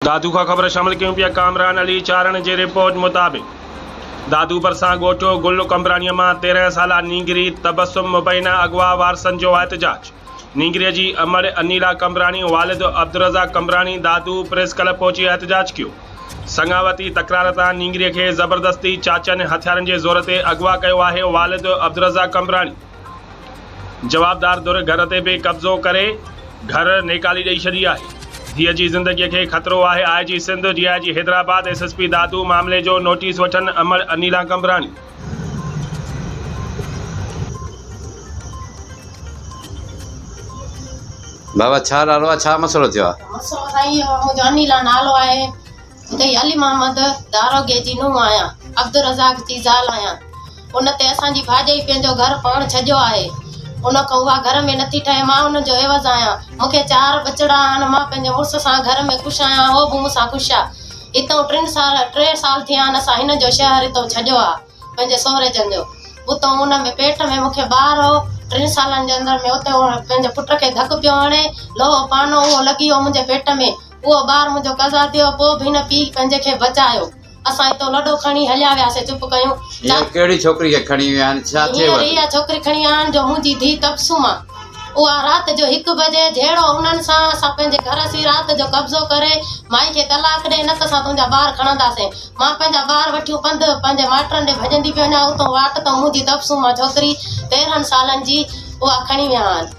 دادو کان خبر شامل ڪيون پيا ڪامران علي چارڻ جي رپورٽ مطابق دادو ڀرسان ڳوٺ گل قمبراڻيء مان تيرنهن سالا نينگري تبسم مبينا اغوا وارثن جو احتجاج نينگري جي امڙ انيلا قمبراڻي والد عبدالرزاق قمبراڻي دادو پريس ڪلب پهچي احتجاج ڪيو سڱاوتي تڪرار تان نينگري کي زبردستي چاچن هٿيارن جي زور تي اغوا ڪيو آهي والد عبدالرزاق قمبراڻي جوابدار ڌر گهر تي به قبضو ڪري گهر نيڪالي ڏئي ڇڏي آهي، ڌيء جي زندگي کي خطرو آهي، I G Sindh, D I G Hyderabad, S S P Dadu معاملي جو نوٽيس وٺن، امڙ انيلا قمبراڻي. بابا ڇا نالو آ ڇا مسئلو ٿيو آ. مسئلو سائين انيلا نالو آهي. اتي علي محمد داروغي جي نونهن آهيان، عبدالرزاق جي زال آهيان. ان تي اسان جي ڀاڄائي پنهنجو گهر پاڻ ڇڄيو آهي. ان کان اها گهر ۾ نٿي ٺهي. مان ان جو عيوض آهيان. مون کي چار ٻچڙا آهن. مان پنهنجي مڙس سان گهر ۾ خوش آهيان. هو به مون سان خوش آ. هتئون ٽن سال ٽي سال ٿيا آهن اسان هن جو شهر هتئون ڇڄيو آ. پنهنجي سهري جن جو. اتئون ان ۾ پيٽ ۾ مون کي ٻار هو. ٽن سالن جي اندر ۾ اتئون پنهنجي پٽ کي ڌڪ پيو هڻي. لوهو پانو اهو لڳي ويو منهنجي پيٽ ۾. اهو ٻار منهنجو قضا ٿيو پوء به هن پيء پنهنجي کي بچايو. اسان هتو لڏو کڻي هليا وياسين چپ ڪيون. هينئر چاچي. ڪهڙي ڇوڪري کي کڻي ويا آهن ڇا ٿيو هينئر اٿس. اها ڇوڪري کڻي آيا آهن جو منهنجي ڌيء تبسم آ. اها رات جو هڪ بجي جهيڙو انهن سان اسان پنهنجي گهر اسين رات جو قبضو ڪري مائي کي طلاق ڏي نه ته اسان تنهنجا ٻار کڻنداسين. مان پنهنجا ٻار وٺيون پنڌ پنهنجي مائٽرن ڏي ڀڄندي پئي وڃان اتون واٽ تون منهنجي تبسم آ ڇوڪري تيرهن سالن جي اها کڻي ويا آهن.